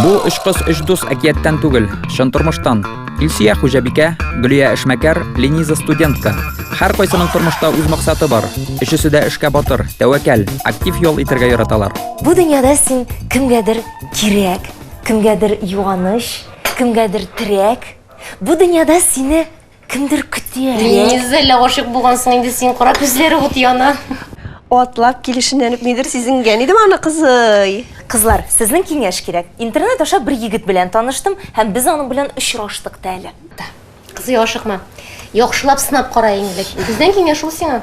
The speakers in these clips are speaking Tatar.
Бу өч кыз өч дус әкияттән түгел, чын тормыштан. Илсия хуҗабикә, Гөлия эшмәкәр, Лениза студентка. Һәр кайсының тормышта үз максаты бар. Өчесе дә эшкә батыр, тәвәкәл, актив ял итәргә яраталар. Бу дөньяда син кемгәдер кирәк, кемгәдер юаныч, кемгәдер терәк. Бу дөньяда сине Кемдер көтә. Низелә гашыйк булгансың инде син, кара күзләре ут яна. Атлап килешеннән үк нидер сизенгән идем аны, кызый. Кызлар, сезнең киңәш кирәк. Интернет аша бер егет белән таныштым һәм без аның белән очраштык та әле. Кызый, ашыкма. Яхшылап сынап кара иң элек. Бездән киңәш ул сиңа.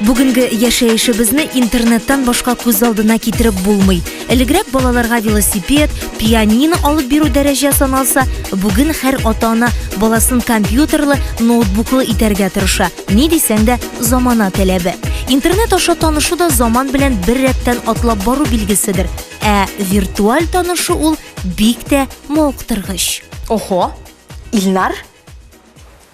Бүгенге яшәешебезне интернеттан башка күз алдына китереп булмый. Элегрәк балаларга велосипед, пианино алып бирү дәрәҗә саналса, бүген һәр ата-ана баласын компьютерлы, ноутбуклы итәргә тырыша. Ни дисәң дә, замана таләбе. Интернет аша танышу да заман белән бер рәттән атлап бару билгеседер. Ә виртуаль танышу ул бик тә мавыктыргыч. Охо, Илнар,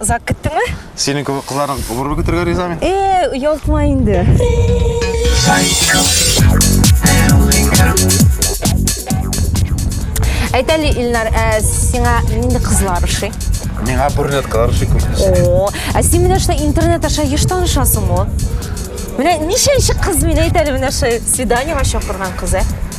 Озак көттеңме? Синең кебек кызларның гомерен көтергә риза мин. Э, оялтма инде. Әйт әле, Илнар, ә сиңа нинди кызлар ошый? Миңа брюнеткалар ошый күбесе. О, ә син менә шулай интернет аша еш танышасың ул. Менә ничәнче кыз мин әйт әле менә шулай свиданиега чакырган кыз, ә?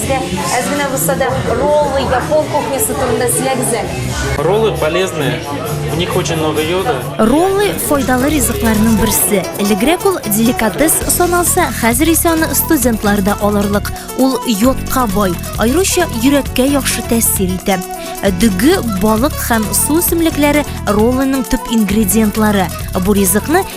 Сезгә әз генә булса да роллы япон кухнясы турында сөйләгез әле. Роллы полезные, в них очень много йода. Роллы файдалы ризыкларның берсе. Элегрәк ул деликатес саналса, хәзер исә аны студентлар да алырлык. Ул йодка бай, аеруча йөрәккә яхшы тәэсир итә. Дөге, балык һәм су үсемлекләре роллының төп ингредиентлары. Бу ризыкны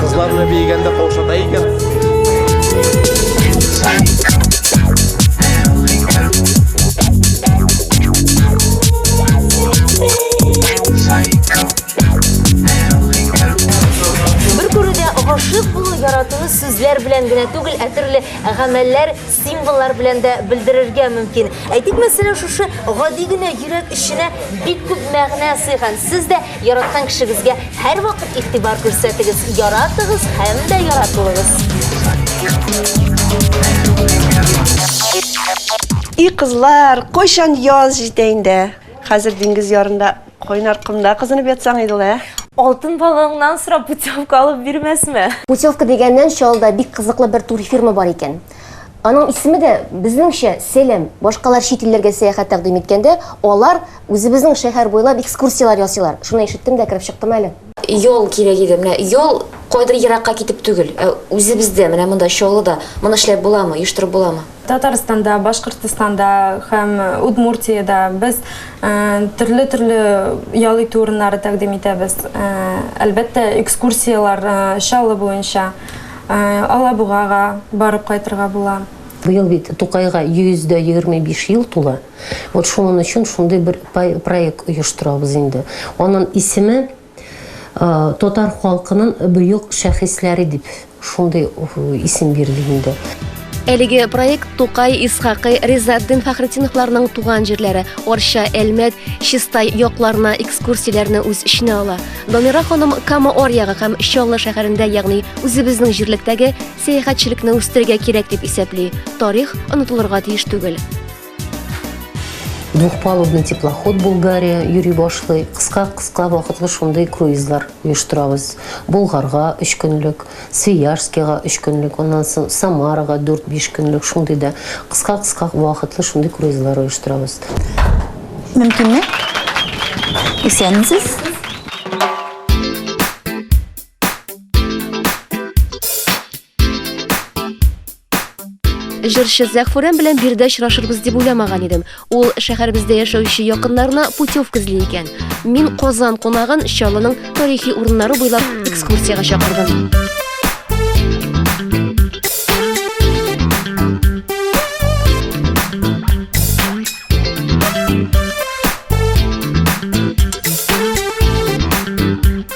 Кызларны бейгәндә каушата икән. яратуны сүзләр белән генә түгел, ә төрле гамәлләр, символлар белән дә белдерергә мөмкин. Әйтик, мәсәлән, шушы гади генә йөрәк эченә бик күп мәгънә сыйган. Сез дә Яраткан кешегезгә һәрвакыт игътибар күрсәтегез, яратыгыз һәм дә яратылыгыз. И кызлар, кайчан яз җитә инде? Хәзер диңгез ярында, кайнар комда кызынып ятсаң иде ул, ә? Алтын балыгыңнан сорап путевка алып бирмәсме? Путевка дигәннән чалда бик кызыклы бер турфирма бар икән. Аның исеме дә, безнеңчә, Сәләм. Башкалар чит илләргә сәяхәт тәкъдим иткәндә, алар үзебезнең шәһәр буйлап экскурсияләр ясыйлар. Шуны ишеттем дә кереп чыктым әле. Ял кирәк иде. Менә ял кайдыр еракка китеп түгел, ә үзебездә, менә монда, Чаллыда. Моны эшләп буламы, оештырып буламы? Татарстанда, Башкортстанда һәм Удмуртиядә без төрле-төрле ял итү урыннары тәкъдим итәбез. Әлбәттә, экскурсияләр Чаллы буенча. Алабугага барып кайтырга була. Быел бит Тукайга 125 ел тула. Вот шуның өчен шундый бер проект оештырабыз инде. Аның исеме Татар халкының бөек шәхесләре дип шундый исем бирде инде. Әлеге проект Тукай, Исхакый, Ризатдин Фәхретдиновларның туган җирләре, Орча, Әлмәт, Чистай якларына экскурсияләрне үз эченә ала. Дамира ханым Кама Орьягы һәм Чаллы шәһәрендә, ягъни үзебезнең җирлектәге сәяхәтчелекне үстерергә кирәк дип исәпли. Тарих онытылырга тиеш түгел. Двухпалубный теплоход Булгария йөри башлый. Кыска-кыска вакытлы шундый круизлар оештырабыз. Болгарга 3 көнлек, Свиярскига 3 көнлек, аннан соң Самарага 4-5 көнлек шундый да кыска-кыска вакытлы шундый круизлар оештырабыз. Мөмкинме? Исәнмесез? Җырчы Зәхфүрән белән биредә очрашырбыз дип уйламаган идем. Ул шәһәребездә яшәүче якыннарына путевка эзли икән. Мин Казан кунагын Чаллының тарихи урыннары буйлап экскурсиягә чакырдым.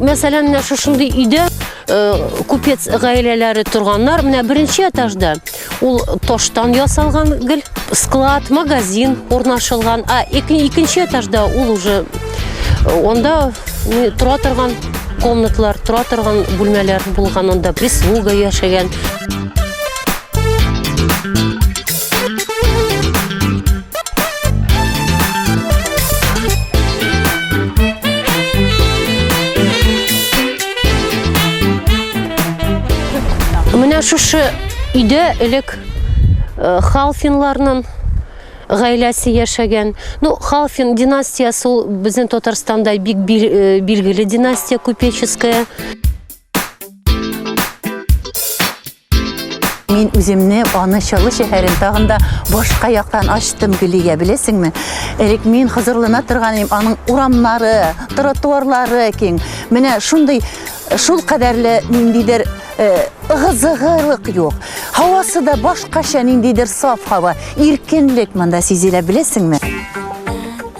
Мәсәлән, менә шушындый өйдә э, купец гаиләләре торганнар. Менә беренче этажда ул тоштан ясалган гел склад, магазин урнашылган. А икенче этажда ул уже э, онда тора торган комнатлар, тора торган бүлмәләр булган, онда прислуга яшәгән. Менә шушы өйдә элек э, халфинларның гаиләсе яшәгән. Ну, халфин династиясе ул безнең Татарстанда бик бил- э, билгеле династия купеческая. Мин үземне аны Чаллы шәһәрен тагын да башка яктан ачтым Гөлия, беләсеңме? Элек мин хозурлана торган идем, аның урамнары, тротуарлары киң. Менә шундый шул кадәрле ниндидер э, ыгы-зыгылык юк. Һавасы да башкача ниндидер саф һава, иркенлек монда сизелә, беләсеңме?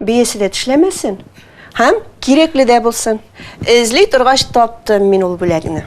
Биясе дә тешләмәсен һәм кирәкле дә булсын. Эзли торгач таптым мин ул бүләкне.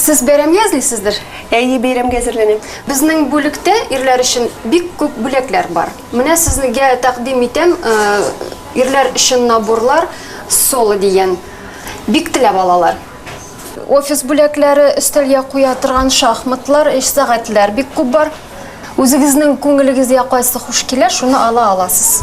Сез бәйрәмгә әзлисездер? Әйе, бәйрәмгә әзерләнәм. Безнең бүлектә ирләр өчен бик күп бүләкләр бар. Менә сезгә тәкъдим итәм, ирләр өчен наборлар, соло дигән. Бик теләп алалар. Офис бүләкләре, өстәлгә куя торган шахматлар, эш сәгатьләр бик күп бар. Үзегезнең күңелегезгә кайсы хуш килә, шуны ала аласыз.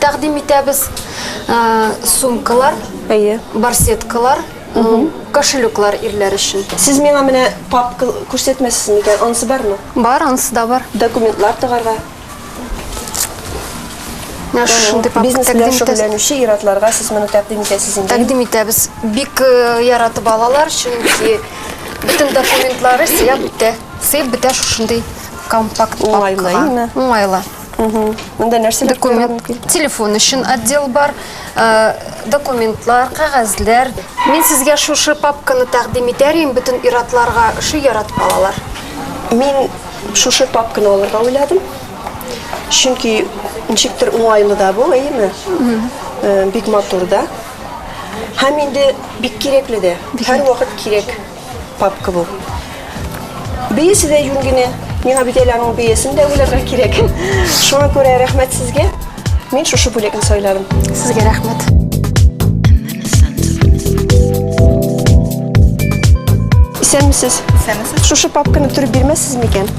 тәкъдим итәбез. Сумкалар, әйе, барсеткалар, кошелеклар ирләр өчен. Сез миңа менә папка күрсәтмәсез микән? Анысы бармы? Бар, анысы да бар. Документлар тыгарга. Менә шундый папка Бизнес белән тәкъдим итәбез. шөгыльләнүче ир-атларга сез моны тәкъдим итәсез инде. Тәкъдим итәбез. Бик э, яратып алалар, чөнки бөтен документлары сыяп бетә. Сыеп бетә шушындый компакт Уңайлы, папкага. әйеме? Уңайлы. Монда нәрсәләр куярга мөмкин? Телефон өчен отдел бар, э, документлар, кәгазьләр. Мин сезгә шушы папканы тәкъдим итәр идем, бөтен иратларга шуй яратып алалар. Мин шушы папканы алырга уйладым. Чөнки ничектер уңайлы да бу, әйеме? Э, бик матур да. Һәм инде бик кирәкле дә. Һәр вакыт кирәк. Папка бу. Бейесе дә юн генә. Миңа бит әле аның бейесен дә уйларга кирәк. Шуңа күрә рәхмәт сезгә. Мин шушы бүлекне сайладым. Сезгә рәхмәт. Исәнмесез. Исәнмесез. Шушы папканы төреп бирмәссез микән?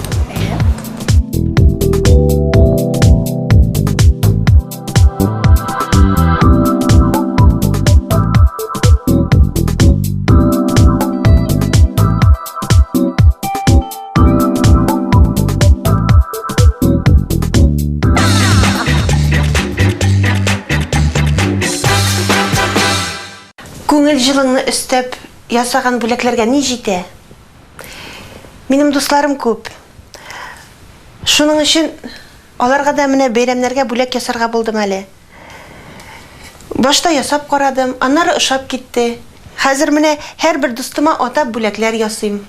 Күңел җылыңны өстәп ясаган бүләкләргә ни җитә? Минем дусларым күп. Шуның өчен Аларга да менә бәйрәмнәргә бүләк ясарга булдым әле. Башта ясап карадым, аннары ошап китте. Хәзер менә һәрбер дустыма атап бүләкләр ясыйм.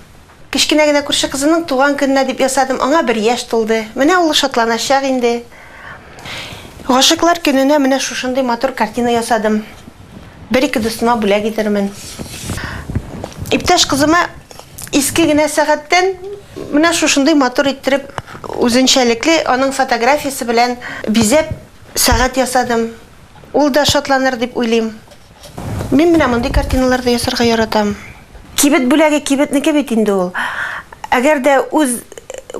Кечкенә генә күрше кызымның туган көненә дип ясадым, аңа бер яшь тулды. Менә ул шатланачак инде. Гашыйклар көненә менә шушындый матур картина ясадым. Бер-ике дустыма бүләк итермен. Иптәш кызыма иске генә сәгатьтән менә шушындый матур иттереп, үзенчәлекле, аның фотографиясе белән бизәп, сәгать ясадым. Ул да шатланыр дип уйлыйм. Мин менә мондый картиналар да ясарга яратам. Кибет бүләге кибетнеке бит инде ул. Әгәр дә үз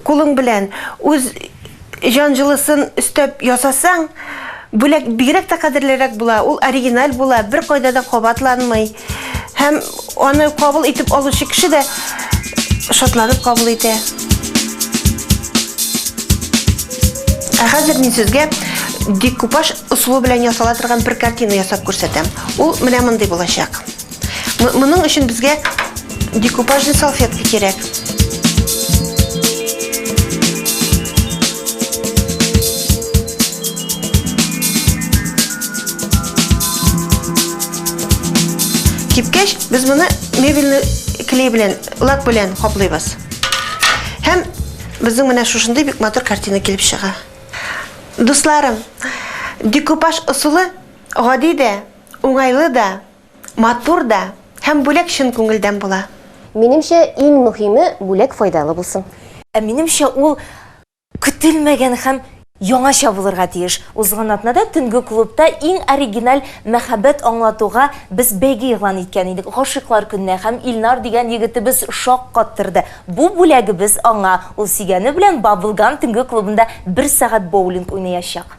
кулың белән, үз җан җылысын өстәп ясасаң, бүләк бигрәк тә кадерлерәк була, ул оригиналь була, бер кайда да кабатланмый. Һәм аны кабул итеп алучы кеше дә шатланып кабул итә. Ә хәзер мин сезгә декупаж ысулы белән ясала торган бер картина ясап күрсәтәм. Ул менә мондый булачак. Моның өчен безгә декупажный салфетка кирәк. Кипкәч, без моны мебельный клей белән, лак белән каплыйбыз. Һәм безнең менә шушындый бик матур картина килеп чыга. Дусларым, декупаж ысулы гади дә, уңайлы да, Матур да һәм бүләк чын күңелдән була. Минемчә, иң мөһиме, бүләк файдалы булсын. Ә минемчә, ул көтелмәгән һәм яңача булырга тиеш. Узган атнада төнге клубта иң оригиналь мәхәббәт аңлатуга без бәйге игълан иткән идек. Гашыйклар көненә һәм Илнар дигән егетебез шаккаттырды. Бу бүләгебез аңа, ул сөйгәне белән Баблгам төнге клубында бер сәгать боулинг уйнаячак.